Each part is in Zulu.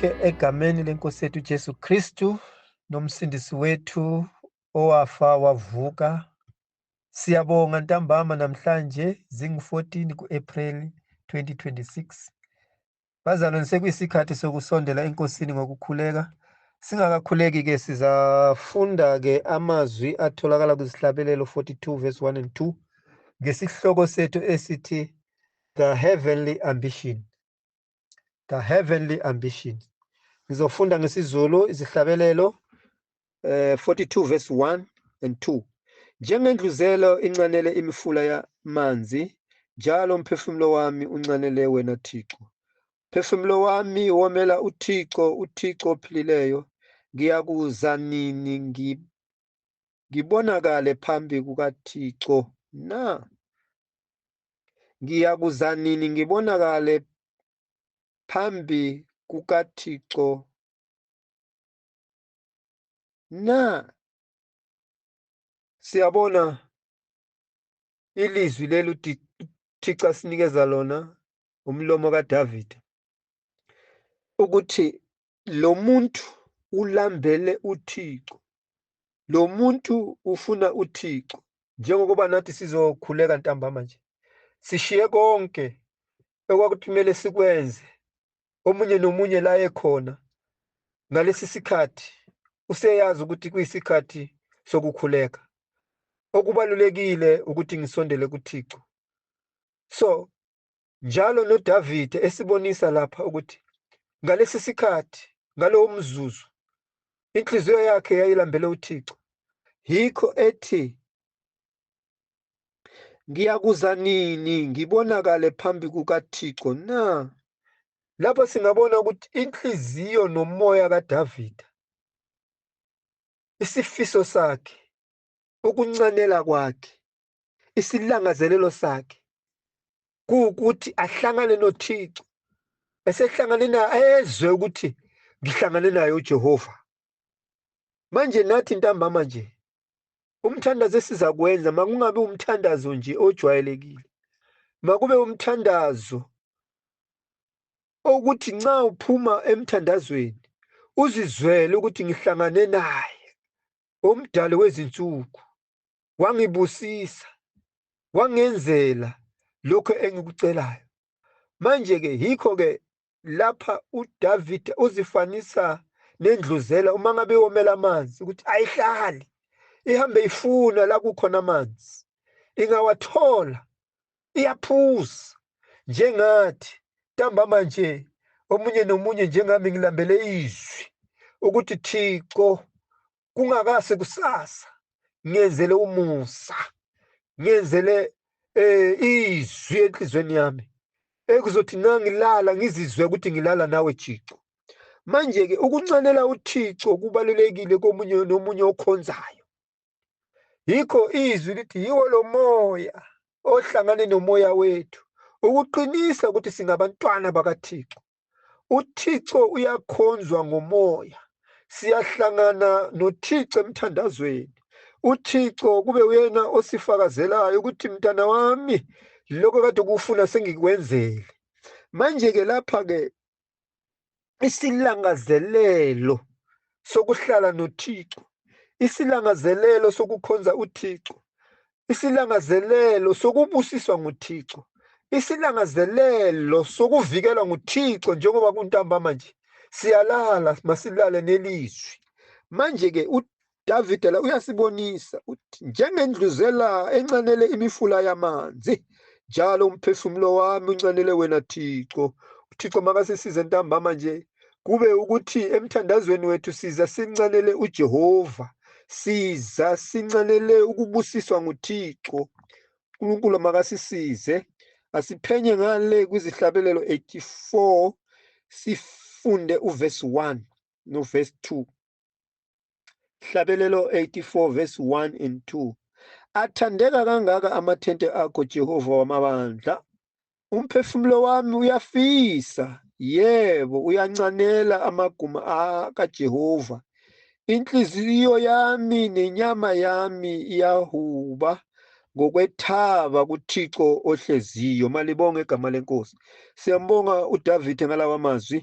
Ke egameni lenkosi yethu Jesu Kristu nomsindisi wethu owafa wavuka siyabonga ntambama namhlanje zingu-14 ku-April 2026 bazalwane sekuyisikhathi sokusondela enkosini ngokukhuleka singakakhuleki-ke sizafunda-ke amazwi atholakala kwizihlabelelo 42 verse 1 and 2 ngesihloko sethu esithi the heavenly ambition the heavenly ambition ngizofunda ngesizulu izihlabelelo eh 42 verse 1 and 2 njengendluzelo incanele imifula yamanzi njalo umphefumulo wami uncanele wena Thixo phefumulo wami womela uThixo uThixo ophilileyo ngiyakuza nini ngi- ngibonakale phambi kukaThixo na? Ngiyakuza nini ngibonakale phambi kukaThixo na? Siyabona ilizwi leli uThixo asinikeza lona umlomo kaDavide ukuthi lo muntu ulambele uThixo lo muntu ufuna uThixo njengokuba nathi sizokhuleka ntambama nje sishiye konke okwakuthumele sikwenze omunye nomunye la ekhona ngalesi sikhathi useyazi ukuthi kuyisikhathi sokukhuleka okubalulekile ukuthi ngisondele kuThixo so njalo noDavide esibonisa lapha ukuthi ngalesi sikhathi ngalowo mzuzu inhliziyo yakhe yayilambele uThixo yikho ethi ngiyakuza nini ngibonakale phambi kukaThixo na lapho singabona ukuthi inhliziyo nomoya kaDavide isifiso sakhe ukuncanela kwakhe isilangazelelo sakhe kuwukuthi ahlangane noThixo esehlangane naye ezwe ukuthi ngihlangane naye uJehova manje nathi ntambama nje umthandazo esiza kwenza makungabe umthandazo nje ojwayelekile makube umthandazo okuthi nxa uphuma emthandazweni uzizwele ukuthi ngihlangane naye omdali wezinsuku wangibusisa wangenzela lokho engikucelayo manje ke yikho ke lapha uDavid uzifanisa nendluzela uma ngabe yomela amanzi ukuthi ayihlali ihambe ifuna la kukhona amanzi ingawathola iyaphuza njengathi ntambama nje omunye nomunye njengami ngilambele izwi ukuthi Thixo kungakase kusasa ngiyenzele umusa ngiyenzele eh izwi enhlizweni yami ekuzothi ngangilala ngizizwe ukuthi ngilala nawe Thixo manje ke ukuncanela uThixo kubalulekile komunye nomunye okhonzayo yikho izwi lithi yiwo lo moya ohlangane nomoya wethu ukuqinisa ukuthi singabantwana bakaThixo uThixo uyakhonzwa ngomoya siyahlangana noThixo emthandazweni uThixo kube uyena osifakazelayo ukuthi mntana wami lokho kade ukufuna sengikwenzele manje ke lapha ke isilangazelelo sokuhlala noThixo isilangazelelo sokukhonza uThixo isilangazelelo sokubusiswa nguThixo, isilangazelelo sokuvikelwa nguThixo njengoba kuntambama nje. Siyalala, masilale nelizwi. Manje-ke uDavide la uyasibonisa uthi njengendluzela encanele imifula yamanzi njalo umphefumulo wami uncanele wena Thixo. UThixo makasisize ntambama nje kube ukuthi emthandazweni wethu siza sincelele uJehova siza sincelele ukubusiswa nguThixo uNkulunkulu makasisize asiphenye ngale kwizihlabelelo 84 sifunde uvesi 1 novesi 2 Hlabelelo 84 verse 1 and 2. Athandeka kangaka amathente akho Jehova wamabandla. Umphefumulo wami uyafisa, yebo uyancanela amaguma kaJehova. Inhliziyo yami nenyama yami iyahuba ngokwethaba kuThixo ohleziyo malibonge igama lenkosi siyambonga uDavid ngalawa mazwi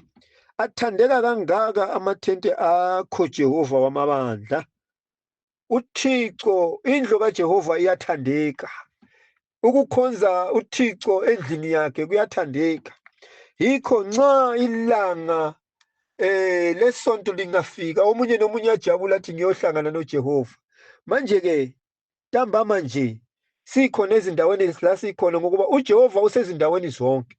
athandeka kangaka amathente akho Jehova wamabandla uThixo indlu kaJehova iyathandeka ukukhonza uThixo endlini yakhe kuyathandeka yikho nxa ilanga eh lesonto lingafika omunye nomunye ajabula athi ngiyohlangana noJehova manje ke ntambama nje sikhona ezindaweni la sikhona ngokuba uJehova usezindaweni zonke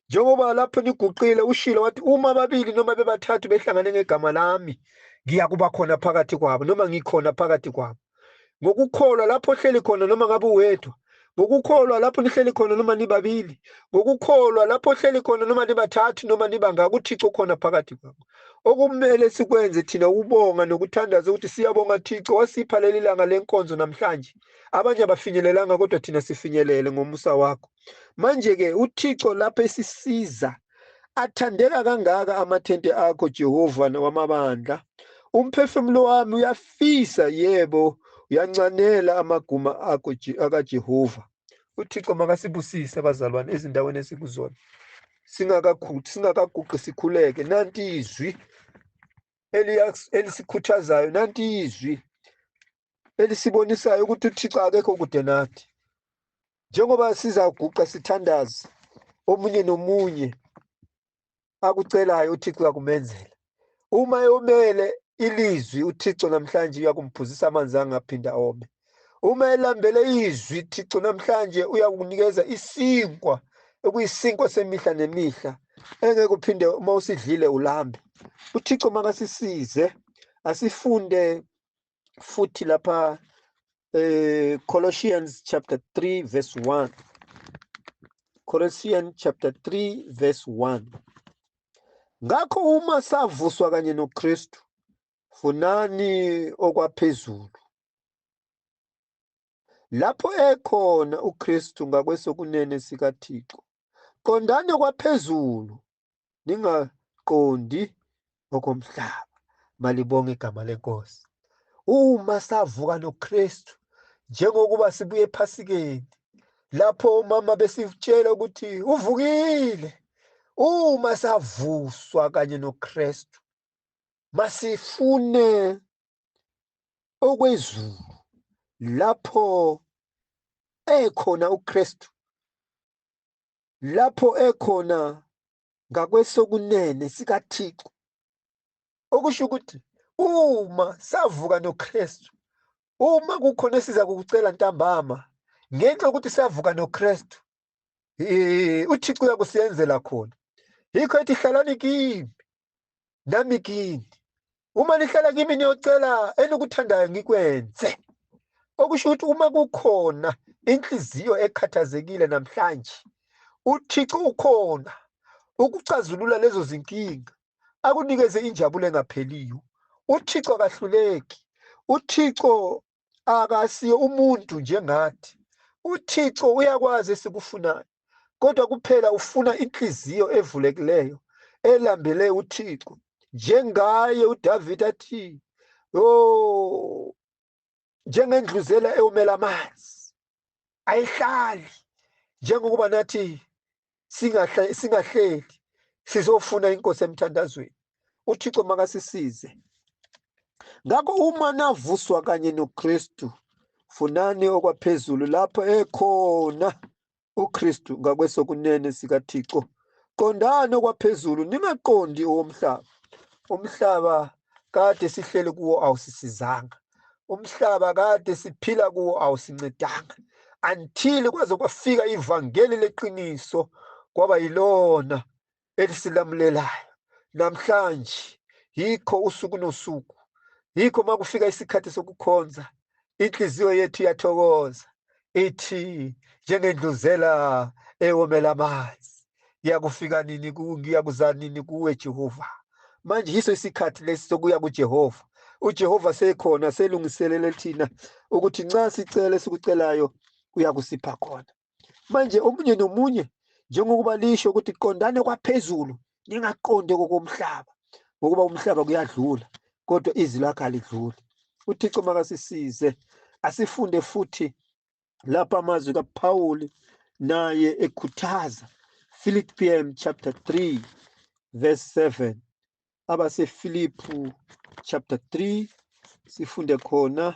njengoba lapho niguqile ushilo wathi uma babili noma bebathathu behlangane ngegama lami ngiya kuba khona phakathi kwabo noma ngikhona phakathi kwabo ngokukholwa lapho ohleli khona noma ngabe uwedwa ngokukholwa lapho nihleli khona noma nibabili ngokukholwa lapho ohleli khona noma nibathathu noma nibangaka uthixo khona phakathi kwabo okumele sikwenze thina ukubonga nokuthandaza ukuthi siyabonga thixo wasipha leli langa lenkonzo namhlanje abanye abafinyelelanga kodwa thina sifinyelele ngomusa wakho manje-ke uthixo lapho esisiza Athandeka kangaka amathente akho Jehova wamabandla. Umphefumulo wami uyafisa yebo uyancanela amaguma akho Je- akaJehova. UThixo makasibusise bazalwane ezindaweni esikuzona. Singakakhu- Singakaguqi sikhuleke nanti izwi eliya- elisikhuthazayo nanti izwi elisibonisayo ukuthi uthixo akekho kude nathi njengoba sizaguqa sithandaze omunye nomunye akucelayo uthixo uyakumenzela uma eyomele ilizwi uthixo namhlanje uyakumphuzisa amanzi angaphinde ome uma elambele izwi thixo namhlanje uyakunikeza isinkwa ekuyisinkwa semihla nemihla engeke uphinde uma usidlile ulambe uthixo makasisize asifunde futhi lapha eh Colossians chapter 3 verse 1 Colossians chapter 3 verse 1 Ngakho uma savuswa kanye noKristu funani okwaphezulu lapho ekhona uKristu ngakwesokunene sikaThixo qondani okwaphezulu ningaqondi okomhlaba malibonga igama lenkosi uma savuka noKristu njengokuba sibuye ephasikeni lapho umama besitshela ukuthi uvukile uma savuswa kanye noKristu masifune okwezulu lapho ekhona uKristu lapho ekhona ngakwesokunene sikaThixo. Okusho ukuthi uma savuka noKristu, uma kukhona esiza kukucela ntambama ngenxa yokuthi savuka noKristu, uThixo uyakusenzela khona. Yikho ethi hlalani kimi, nami kini uma nihlala kimi niyocela enikuthandayo ngikwenze okusho ukuthi uma kukhona inhliziyo ekhathazekile namhlanje uthixo ukhona ukucazulula lezo zinkinga akunikeze injabulo engapheliyo uthixo akahluleki uthixo akasiye umuntu njengathi uthixo uyakwazi esikufunayo kodwa kuphela ufuna inhliziyo evulekileyo elambele uthixo njengaye udavid athi yo njengendluzela ewumela amanzi ayihlali njengokuba nathi singahleli sizofuna inkosi emthandazweni uthixo makasisize ngakho uma navuswa kanye nokristu funani okwaphezulu lapho ekhona ukristu ngakwesokunene sikathixo qondani okwaphezulu ningaqondi owomhlaba umhlaba kade sihleli kuwo awusisizanga umhlaba kade siphila kuwo awusincedanga until kwaze kwafika ivangeli leqiniso kwaba yilona elisilamulelayo namhlanje yikho usuku nosuku yikho makufika isikhathi sokukhonza inhliziyo yethu iyathokoza ithi njengendluzela ewomela amanzi ngiyakufika nini ngiyakuza nini kuwe Jehova manje yiso isikhathi lesi sokuya kuJehova uJehova sekhona selungiselele thina ukuthi nxa sicele sikucelayo uyakusipha khona manje omunye nomunye njengokuba lisho ukuthi qondane kwaphezulu ningaqondi kokomhlaba ngokuba umhlaba kuyadlula kodwa izwi lakhe alidluli uthixo makasisize asifunde futhi lapha amazwi kaphawuli naye ekhuthaza philippian chapter 3 verse 7 abasefilipu chapter 3 sifunde khona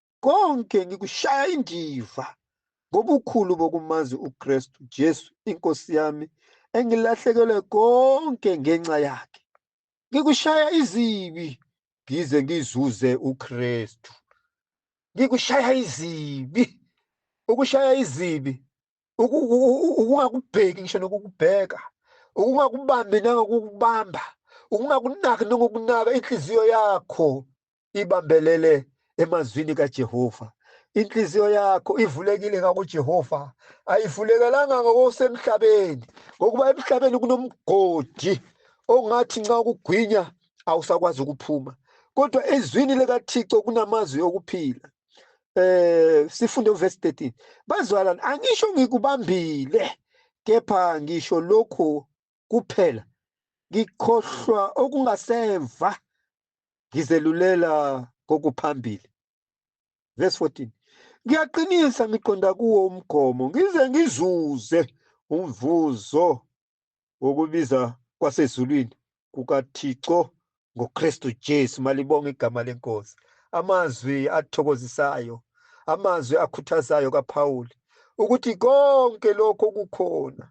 konke ngikushaya indiva ngobukhulu bokumazi uKristu Jesu inkosi yami engilahlekelwe konke ngenxa yakhe ngikushaya izibi ngize ngizuze uKristu ngikushaya izibi ukushaya izibi ukungakubheki ngisho nokukubheka ukungakubambi nangokukubamba ukungakunaki nokukunaka inhliziyo yakho ibambelele emazwini kaJehova. Inhliziyo yakho ivulekile ngakuJehova, ayivulekelanga ngokusemhlabeni, ngokuba emhlabeni kunomgodi ongathi nxa ukugwinya awusakwazi ukuphuma. Kodwa ezwini likaThixo kunamazwi okuphila. Eh sifunde uverse 13. Bazalwane, angisho ngikubambile, kepha ngisho lokhu kuphela ngikhohlwa okungasemva ngizelulela kokuphambili verse 14 ngiyaqinisa ngiqonda kuwo umgomo ngize ngizuze umvuzo wokubiza kwasezulwini kukaThixo ngoKristu Jesu malibonga igama lenkosi amazwi athokozisayo amazwi akhuthazayo kaPawuli ukuthi konke lokho kukhona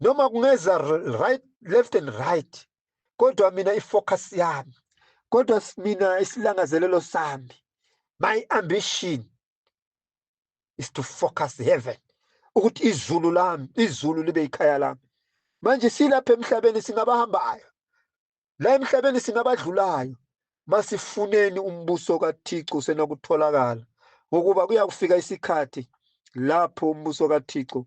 noma kungeza right left and right kodwa mina ifocus yami kodwa mina isilangazelelo sami my ambition is to focus heaven ukuthi izulu lami izulu libe ikhaya lami manje silapha emhlabeni singabahambayo la emhlabeni singabadlulayo masifuneni umbuso kaThixo senakutholakala ngokuba kuyakufika isikhathi lapho umbuso kaThixo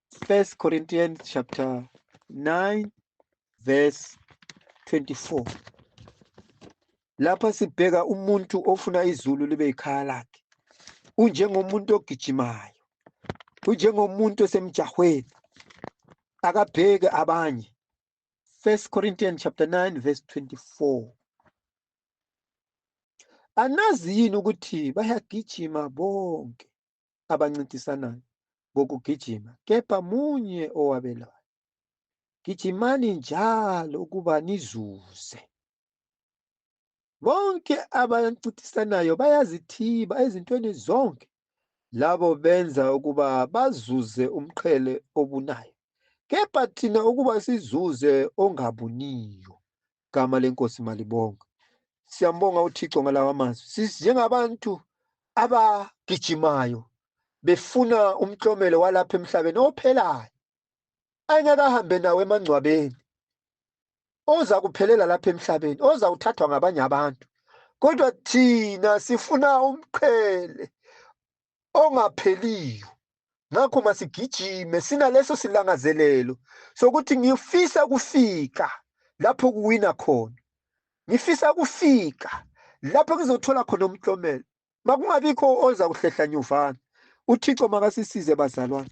First Corinthians chapter 9 verse 24. Lapha sibheka umuntu ofuna izulu libe ikhaya lakhe. Unjengomuntu ogijimayo. Unjengomuntu osemjahweni. Akabheke abanye. First Corinthians chapter 9 verse 24. Anazi yini ukuthi bayagijima bonke abancintisanayo ngokugijima kepha munye owabelayo. Gijimani njalo ukuba nizuze. Bonke abancintisanayo bayazithiba ezintweni zonke labo benza ukuba bazuze umqhele obunayo kepha thina ukuba sizuze ongabuniyo igama lenkosi malibongwe siyambonga uthixo ngalawa mazwi sisi njengabantu abagijimayo befuna umklomelo walapha emhlabeni ophelayo ayengakahambe nawo emangcwabeni oza kuphelela lapha emhlabeni oza kuthathwa ngabanye abantu kodwa thina sifuna umqhele ongapheliyo ngakho masigijime sinaleso silangazelelo sokuthi ngifisa kufika lapho kuwina khona ngifisa kufika lapho ngizothola khona umklomelo makungabikho oza kuhlehla nyuvana uthixo makasisize bazalwane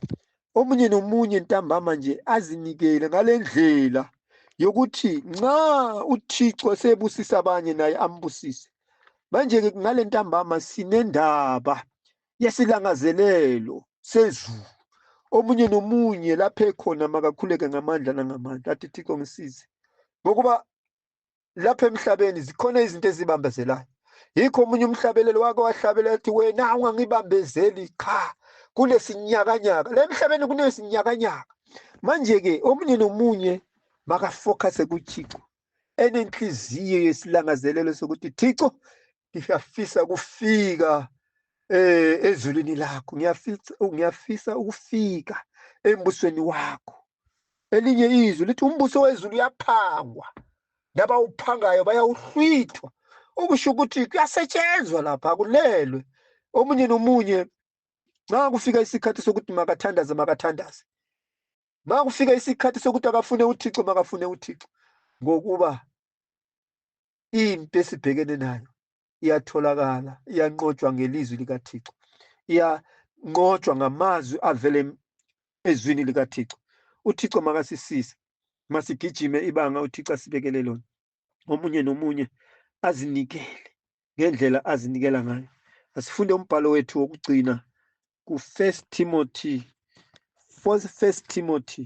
omunye nomunye ntambama nje azinikele ngale ndlela yokuthi nxa uthixo sebusisa abanye naye ambusise manje-ke ngale ntambama sinendaba yesilangazelelo sezulu omunye nomunye lapho ekhona makakhuleke ngamandla nangamandla athi thixo ngisize ngokuba lapha emhlabeni zikhona izinto ezibambezelayo yikho omunye umhlabeleli wake wahlabela ethi wena ungangibambezeli qha kunesinyakanyaka la emhlabeni kunesinyakanyaka manje-ke omunye nomunye makafocuse kuthixo enenhliziyo yesilangazelelo sokuthi thixo ngiyafisa ukufika eh ezulwini lakho ngiyafisa ngiyafisa ukufika embusweni wakho elinye izwi lithi umbuso wezulu uyaphangwa nabawuphangayo bayawuhlwithwa okusho ukuthi kuyasetshenzwa lapha kulelwe omunye nomunye nxa kufika isikhathi sokuthi makathandaze makathandaze ma kufika isikhathi sokuthi akafune uthixo makafune uthixo ngokuba into esibhekene nayo iyatholakala iyanqotshwa ngelizwi likathixo iyanqotshwa ngamazwi avele ezwini likathixo uthixo makasisize masigijime ibanga uthixo asibekele lona omunye nomunye azinikele ngendlela azinikela ngayo asifunde umbhalo wethu wokugcina ku-first timothy first timothy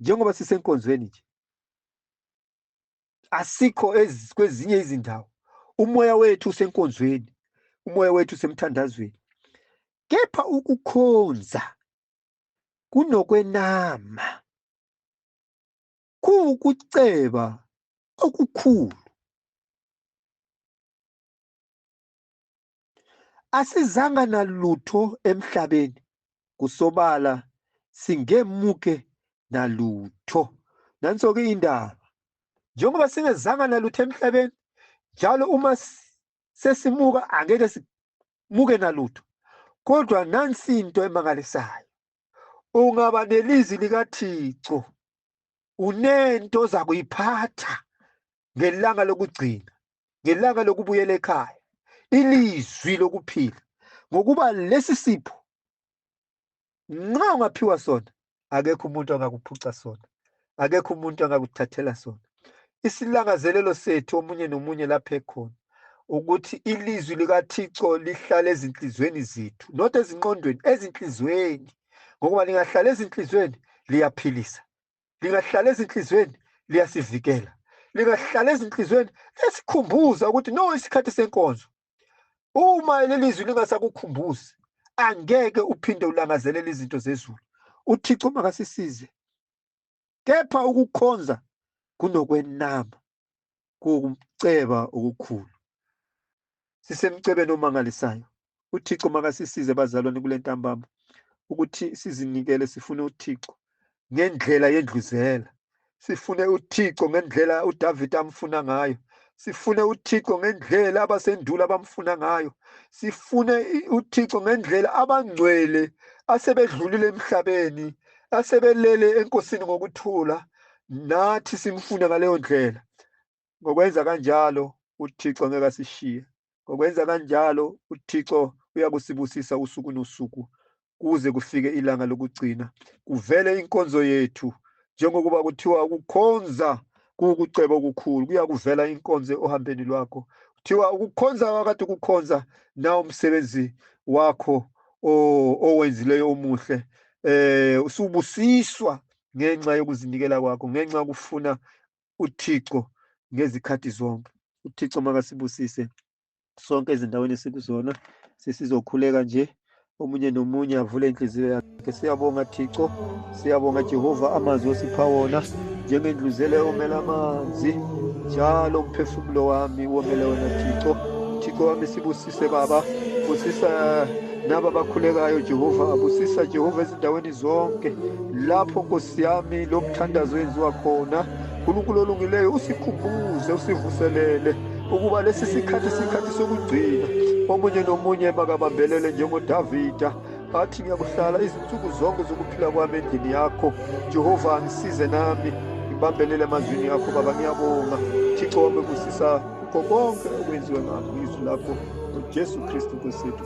njengoba sisenkonzweni nje asikho kwezinye izindawo umoya wethu usenkonzweni umoya wethu usemthandazweni kepha ukukhonza kunokwenama kuwukuceba okukhulu Asizanga nalutho emhlabeni kusobala singemuke nalutho. Nanso-ke indaba. Njengoba singezanga nalutho emhlabeni, njalo uma sesimuka angeke simuke nalutho. Kodwa nansi into emangalisayo. Ungaba nelizwi likaThixo unento oza kuyiphatha ngelanga lokugcina ngelanga lokubuyela ekhaya ilizwi lokuphila ngokuba lesi sipho nxa ungaphiwa sona akekho umuntu angakuphuca sona akekho umuntu angakuthathela sona isilangazelelo sethu omunye nomunye lapha ekhona ukuthi ilizwi likathixo lihlale ezinhliziyweni zethu not ezinqondweni ezinhliziyweni ngokuba lingahlala ezinhliziyweni liyaphilisa lingahlala ezinhlizweni liyasivikela lingahlala ezinhlizweni liyasikhumbuza ukuthi no isikhathi senkonzo uma leli zwi lingasakukhumbuzi angeke uphinde ulangazelele izinto zezulu uthixo makasisize kepha ukukhonza kunokwenama kuwukuceba okukhulu. Sisemcebeni omangalisayo. UThixo makasisize bazalwane kule ntambama ukuthi sizinikele sifune uThixo ngendlela yendluzela. Sifune uThixo ngendlela uDavid amfuna ngayo. Sifune uThixo ngendlela abasendulo abamfuna ngayo. Sifune i- uThixo ngendlela abangcwele asebedlulile emhlabeni, asebelele enkosini ngokuthula. nathi simfune ngaleyo ndlela ngokwenza kanjalo uthixo ngeke asishiye ngokwenza kanjalo uthixo uyakusibusisa usuku nosuku kuze kufike ilanga lokugcina kuvele inkonzo yethu njengokuba kuthiwa ukukhonza kuwukuceba okukhulu kuyakuvela inkonzo ohambeni lwakho kuthiwa ukukhonza wakade ukukhonza na umsebenzi wakho owenzileyo omuhle eh usubusiswa ngenxa yokuzinikela kwakho, ngenxa yokufuna uThixo ngezikhathi zonke. UThixo makasibusise sonke ezindaweni esikuzona, sesizokhuleka nje omunye nomunye avule inhliziyo yakhe. Siyabonga Thixo, siyabonga Jehova amazwi osipha wona njengendluzele omela amanzi njalo umphefumulo wami womele wena Thixo. Thixo wami sibusise Baba, busisa naba bakhulekayo Jehova, abusisa Jehova ezindaweni zonke lapho nkosi yami lo mthandazo yenziwa khona nkulunkulu olungileyo usikhumbuze usivuselele ukuba lesi sikhathi sikhathi sokugcina omunye nomunye makabambelele njengodavida athi ngiyakuhlala izinsuku zonke zokuphila kwami endlini yakho jehova angisize nami ngibambelele emazwini yakho baba ngiyabonga thixo wami kusisa kukho konke okwenziwe ngakho izwi lakho ujesu kristu nkosethu